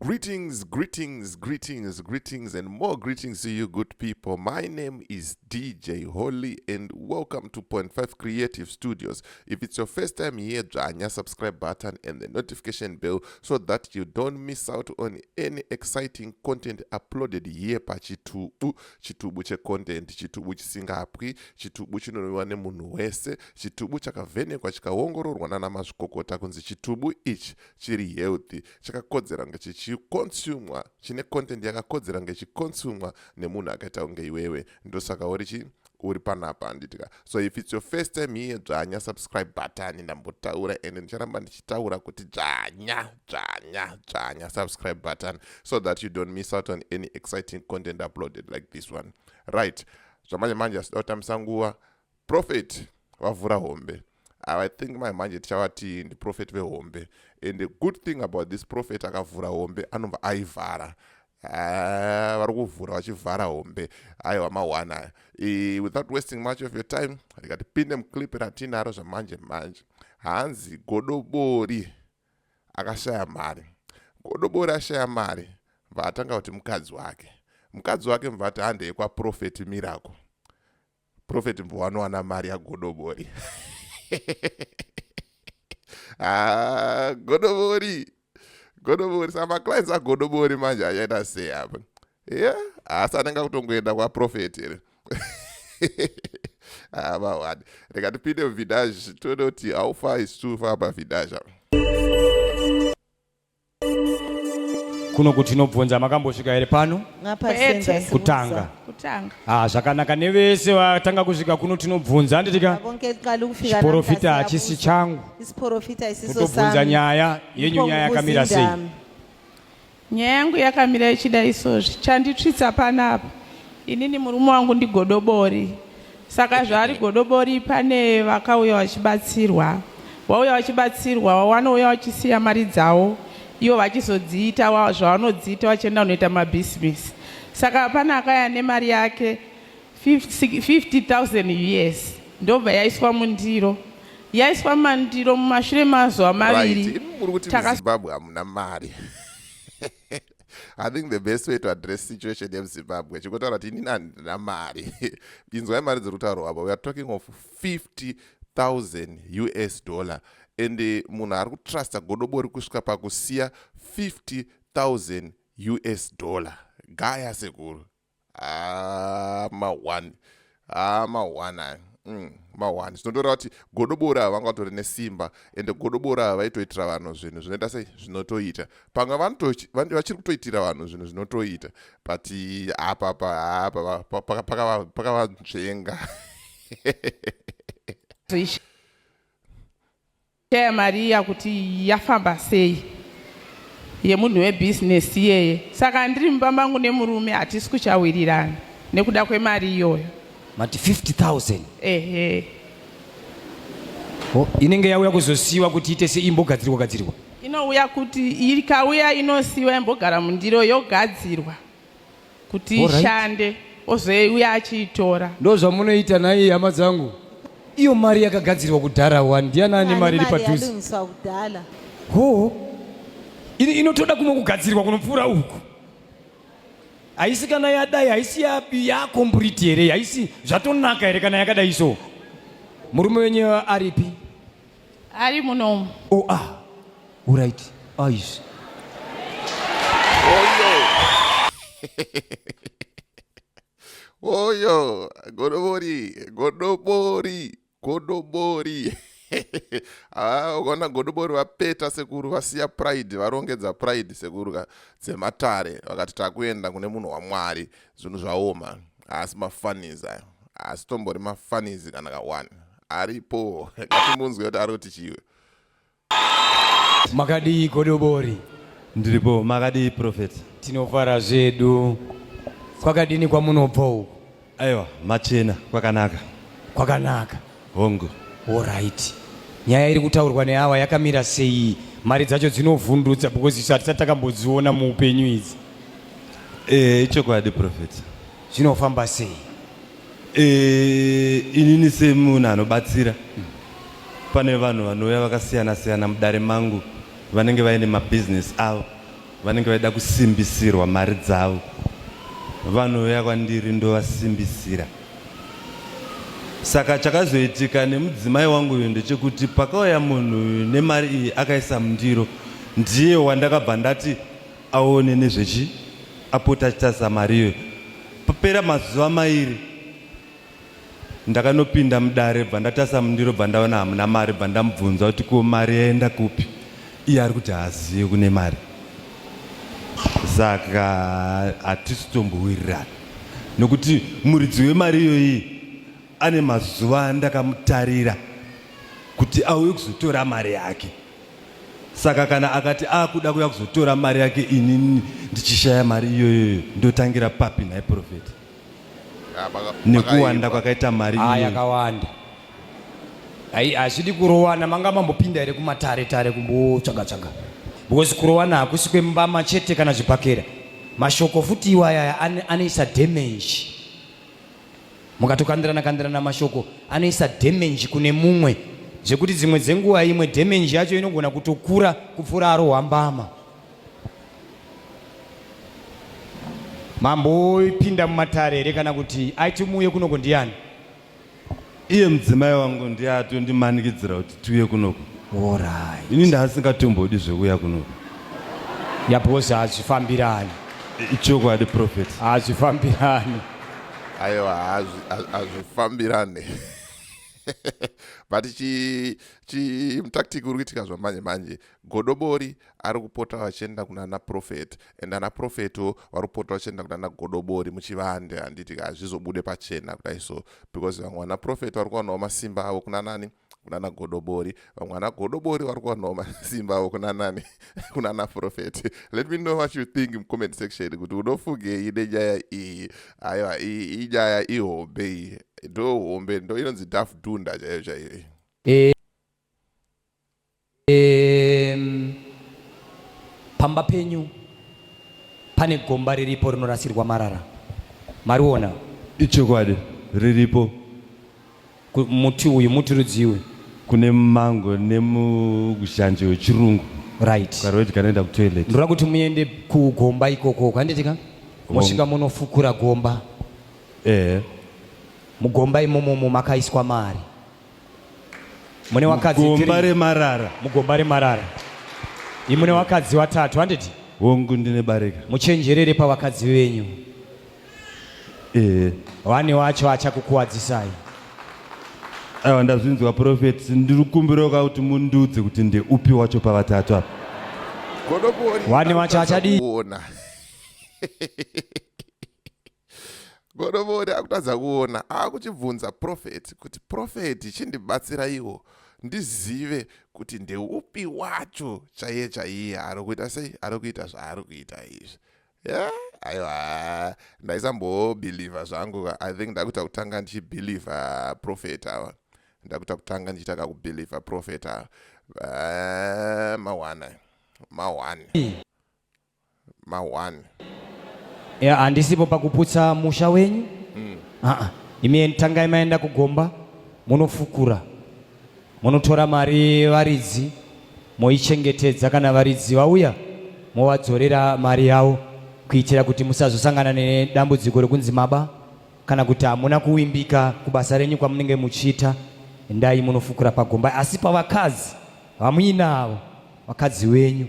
Greetings, greetings, greetings, greetings, and more greetings to you, good people. My name is DJ Holy, and welcome to Point Five Creative Studios. If it's your first time here, join your subscribe button and the notification bell so that you don't miss out on any exciting content uploaded here pa Chitubu. Chitubu che content, Chitubu chisingapwi, Chitubu chinonwiwa nemunhu wese, Chitubu chakavhenekwa chikaongororwa nana mazvikokota kunzi Chitubu ichi chiri healthy chakakodzera kunge chichikonsumwa chine content yakakodzera kunge chikonsumwa nemunhu akaita kunge iwewe ndosaka uri chii uri panapa handitika so if its your first time here dzvanya subscribe button ndambotaura and ndicharamba ndichitaura kuti dzvanya dzvanya dzvanya subscribe button so that you don't miss out on any exciting content uploaded like this one right zvamanje manje asida kutambisa nguva prophet vavhura hombe ava i think mai manje tichavatii ndiprofeti vehombe and the good thing about this prophet akavhura hombe anobva aivhara ah, vari kuvhura vachivhara hombe aiwa mawana aya e, without wasting much of your time rikatipinde muclip ratiinaro zvamanje manje hanzi godobori akashaya mari godobori ashaya mari bva atanga kuti mukadzi wake mukadzi wake mva ati handei kwaprofeti miracle prophet mbo wanowana mari yagodobori ah, godobori godobori sa maclines agodobori manje achaita sei apa ye asi anenge akutongoenda kwaprofet here avawani ah, reka tipinde muvidage tode kuti haufa isu faa pavidage apa kuno kuti tinobvunza makambosvika here pano kutanga ah, zvakanaka nevese vatanga kusvika kuno tinobvunza handitika chiporofita hachisi changu kutobvunza nyaya yenyu nyaya yakamira sei nyaya yangu yakamira ichida isozvi chanditsvitsa panapa inini murume wangu ndigodobori Saka zvaari godobori pane vakauya vachibatsirwa wauya vachibatsirwa wawanouya wachisiya mari dzawo ivo vachizodziita zvavanodziita vachienda kunoita mabhisimisi saka pane akaya nemari yake 50000 us ndobva yaiswa mundiro yaiswa mandiro mumashure mazuva maviri right. muri kuti muzimbabwe hamuna mari i think the best way to address situation yemuzimbabwe chikotaura kuti inini handina mari inzwai mari dziri kutaurwa apa weare talking of 50 000 us dollar and eh, munhu ari kutrusta godobori kusvika pakusiya 50 000 us dollar gaya sekuru ah, mahwani ah, mahwani aya mm, mahwani zvinotoreva kuti godobori ava vanga vatori nesimba ende godobori ava vaitoitira vanhu zvinhu zvinoita sei zvinotoita pamwe vachiri kutoitira vanhu zvinhu zvinotoita but apa pakavanzvenga Shaya mari iya kuti yafamba sei yemunhu webusiness iyeye. Saka ndiri mumba mangu nemurume hatisi kuchawirirana nekuda kwemari iyoyo. Mati 50,000? Ehe. Oh, inenge yauya kuzosiiwa kuti ite sei imbogadzirwa gadzirwa? Inouya kuti ikauya inosiiwa imbogara mundiro yogadzirwa. kuti Alright. ishande ozouya achiitora ndozvamunoita nhai hama dzangu iyo mari yakagadzirwa kudhara wani ndiani ane Ane mari iri mari padhuze yalungiswa kudhara hoo ini inotoda kumwe kugadzirwa kunopfuura uku haisi kana yadai haisi ya- yakomburiti here haisi zvatonaka here kana yakadai so murume wenyu aripi Ari munomu. Oh ah. Uright. Aisha. Oyo, godobori, godobori, godobori. Ah, ukaona godobori vapeta sekuru vasiya pride varongedza pride sekuru ka dzematare vakati takuenda kune munhu wamwari zvinhu zvaoma haasi mafanizi ayo haasi tombori mafanizi kana kawani aripo ngatimunzwe kuti ari kuti chiwe makadii godobori ndiripo makadii prophet tinofara zvedu kwakadini kwamunobva uku aiwa machena kwakanaka kwakanaka hongu orit nyaya iri kutaurwa neawa yakamira sei mari dzacho dzinovhundutsa because isu hatisati takambodziona muupenyu idzi e, ichokwadi prophet zvinofamba sei eh, inini semunhu anobatsira pane vanhu vanouya vakasiyana siyana mudare mangu vanenge vaine mabhizinesi avo vanenge vaida kusimbisirwa mari dzavo vanouya kwandiri ndovasimbisira saka chakazoitika nemudzimai wangu uyu ndechekuti pakauya munhu nemari iyi akaisa mundiro ndiye wandakabva ndati aone nezvechi apota achitarisa mari iyoyo papera mazuva mairi ndakanopinda mudare bva ndatasa mundiro bva ndaona hamuna mari bva ndamubvunza kuti ko mari yaenda kupi iye ari kuti haazive kune mari saka hatisi tombowirirana nokuti muridzi wemari iyoyi ane mazuva andakamutarira kuti auye kuzotora mari yake Saka kana akati akuda kuya kuzotora mari yake inini ndichishaya mari iyoyoyo ndotangira papi nhai profeti nekuwanda kwakaita mari ah, yakawanda ai hazvidi kurowana manga mambopinda here kumatare tare kumbotsvaga tsvaga because kurowana hakusi kwembama chete kana zvibhakera mashoko futi iwayaya anoisa damage mukatokandirana kandirana mashoko anoisa damage kune mumwe zvekuti dzimwe dzenguva imwe damage yacho inogona kutokura kupfuura arohwa mbama mambo oipinda mumatare here kana kuti aiti muuye kunoko ndiyani iye mudzimai wangu ndiye atondimanikidzira kuti tiuye kunoku Alright. ini ndaasingatombodi zvekuuya kunoku Yeah, because hazvifambirani. I- ichokwadi prophet Hazvifambirani. aiwa hazvi- ha- hazvifambirane but chi- chi- tactic uri kuitika zvamanje manje godobori ari kupota vachienda kunana profeti and ana profetiwo vari kupota vachienda kunana godobori muchivande handiti ka hazvizobude pachena kudai so because vamwe vana profeti vari kuwanawo masimba avo kuna nani kunana godobori vamwe vana godobori vari kuwanawo masimba avo kuna nani kunana profeti let me know what you think mucomment section kuti unofungei nenyaya iyi aiwa iyi inyaya ihombe iyi ndo hombe ndo inonzi daf dunda chaiyo chaiyo iyi eh, Um, pamba penyu pane gomba riripo rinorasirwa marara mariona ichokwadi riripo Ku- muti uyu muti rudzii uyu kune mango nemuzhanje wechirungu right ukarwedya kanoenda kutoilet ndinoda kuti muende kugomba ikoko kwanditika mosvika monofukura gomba ehe mugomba imomomo makaiswa mari mune wakadzi mugomba remarara mugomba remarara imune wakadzi watatu handiti hongu ndine barika muchenjerere pavakadzi venyu ee wani wacho achakukuwadzisai aiwa ndazvinzwa profeti ndiri kukumbirawo ka kuti mundiudze kuti ndeupi wacho pavatatu apa wani wacho achadii godobori akutadza kuona akuchibvunza profeti kuti profeti chindibatsiraiwo ndizive kuti ndeupi wacho chaiye chaiye ari kuita sei ari kuita zvaari kuita izvi yeah? aiwa ndaisambobhilivha zvangu i think ndakuita kutanga ndichibhilivha profet awa ndakuita kutanga ndichiita kakubhilivha profet awa eh, mawana mawana ma one ya handisipo pakuputsa musha wenyu mm. aa imi tangai maenda kugomba munofukura munotora mari varidzi moichengetedza kana varidzi vauya movadzorera mari yavo kuitira kuti musazosangana nedambudziko rekunzi maba kana kuti hamuna kuwimbika kubasa renyu kwamunenge muchiita endai munofukura pagomba asi pavakadzi vamuinavo vakadzi wenyu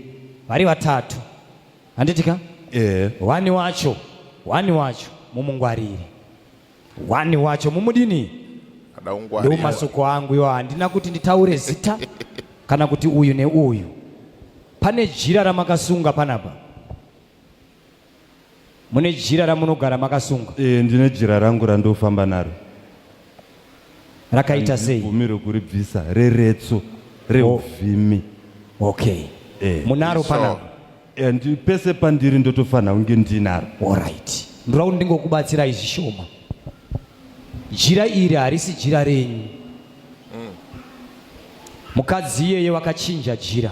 vari vatatu handiti ka eh. wani wacho wani wacho mumungwarire wani wacho mumudini ndo masuko angu yo handina kuti nditaure zita kana kuti uyu neuyu pane jira ramakasunga panapa Mune jira ramunogara makasunga? Eh, ndine jira rangu randofamba naro. Rakaita sei? Bvumi rokuribvisa reretso reuvhimi. Oh. Okay. Eh, munaro so, panapa? Eh, ndi pese pandiri ndotofanira kunge ndinaro. All right. Ndoda kuti ndingokubatsirai zvishoma. Jira iri harisi jira renyu. Mm. Mukadzi iyeye wakachinja jira.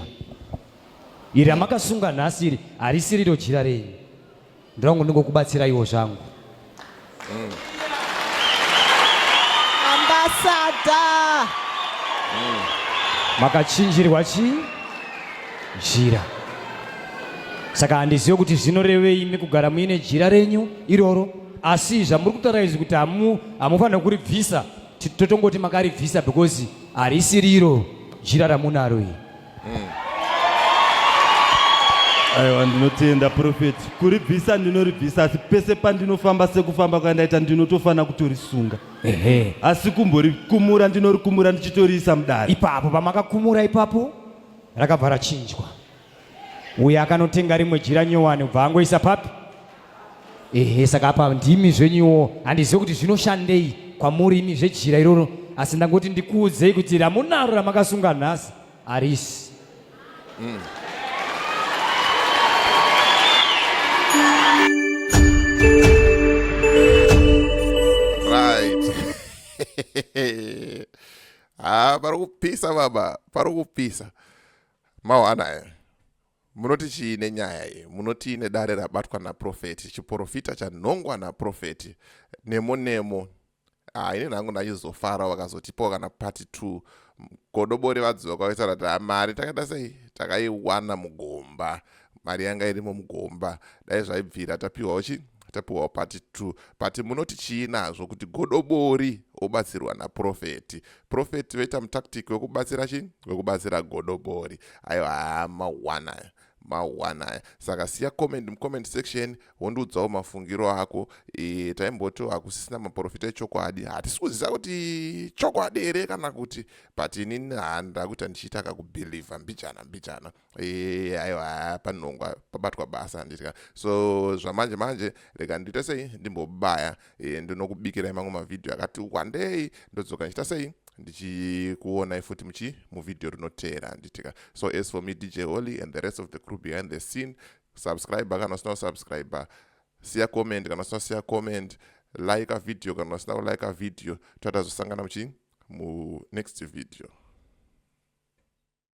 Iri ramakasunga nhasi iri harisi riro jira renyu. Ndirangu ndingokubatsiraiwo zvangu. Mm. Ambasada. Mm. Makachinjirwa chi? Jira. Saka handizive kuti zvinorevei imi kugara muine jira renyu iroro asi zvamuri kutaura izvi kuti hamu hamufanira kuribvisa totongoti makaribvisa because harisi riro jira ramunaro iri mm. aiwa ndinotenda profeti kuribvisa ndinoribvisa asi pese pandinofamba sekufamba kwandaita ndinotofanira kutorisunga ehe asi kumborikumura ndinorikumura ndichitoriisa mudare ipapo pamakakumura ipapo rakabva rachinjwa uye akanotenga rimwe jira nyowani kubva angoisa papi ehe saka apa ndimi zvenyuwo handizive kuti zvinoshandei kwamuri imi zvejira iroro asi ndangoti ndikuudzei kuti ramunaro ramakasunga nhasi harisi mm. haa pari kupisa baba pari kupisa mawana here Munoti chii nenyaya iyi? Munotii nedare rabatwa naprofeti, chiporofita chanhongwa naprofeti nemo nemo? Ah, ini nangu ndachizofara vakazotipawo kana party two godobori vadziva kwavaisa rati ha ah, mari takaita sei takaiwana mugomba mari yanga irimo mugomba dai zvaibvira tapiwawo chii tapiwawo pati two but munoti chii nazvo kuti godobori obatsirwa naprofeti profeti vaita mutactic wekubatsira chii wekubatsira godobori aiwa haa mawana aya mawana aya saka siya comment mucomment section wondiudzawo mafungiro ako e, taimbotiwo hakusisina maprofita echokwadi hatisi kuziva kuti chokwadi here kana kuti but inini handakuita ndichiita kakubhilivha mbijana mbijana Eh, aiwa panongwa pabatwa basa handitya so zvamanje manje rega ndiite sei ndimbobaya eh, ndinokubikirai mamwe mavhidhiyo akati wandei ndodzoka ndichita sei ndichikuonai futi muchi muvhidhiyo rinoteera handitya so as for me dj holy and the rest of the crew behind the scene subscriber kana usina kusubscriber siya comment kana usina siya comment like a video kana usina kulike a video tatazosangana muchi mu next video